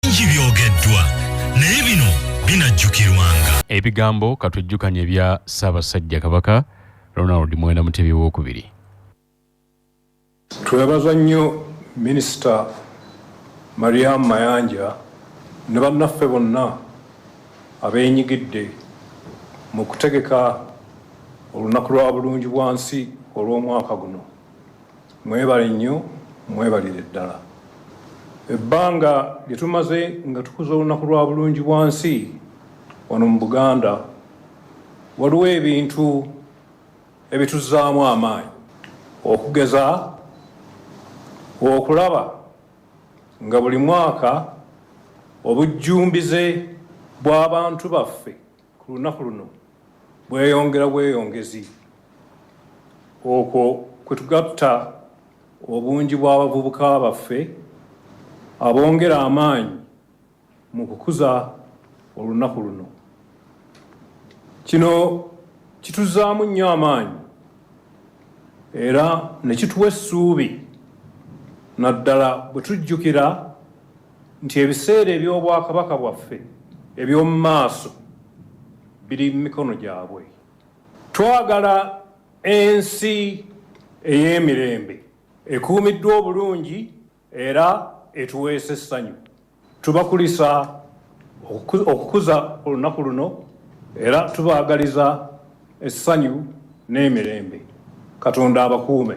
bingi byogeddwa naye bino binajjukirwanga ebigambo katwejjukanye ebya ssaabasajja kabaka ronald mwenda mutebi wokubiri twebaza nnyo minisita mariam mayanja ne bannaffe bonna abeenyigidde mu kutegeka olunaku lwa bulungi bwa nsi olw'omwaka guno Mwebale nnyo, mwebalire ddala. Ebbanga lye tumaze nga tukuza olunaku lwa bulungi bwansi wano mu Buganda, waliwo ebintu ebituzzaamu amaanyi okugeza okulaba nga buli mwaka obujjumbize bw'abantu baffe ku lunaku luno bweyongera bweyongezi okwo kwe tugatta obungi bw'abavubuka baffe abongera amaanyi mu kukuza olunaku luno kino kituzaamu nnyo amaanyi era ne kituwa essuubi naddala bwe tujjukira nti ebiseera eby'obwakabaka bwaffe eby'omu maaso biri mu mikono gyabwe. Twagala ensi ey'emirembe ekuumiddwa obulungi era etuweesa essanyu. Tubakulisa okukuza olunaku luno era tubaagaliza essanyu n'emirembe. Katonda abakuume.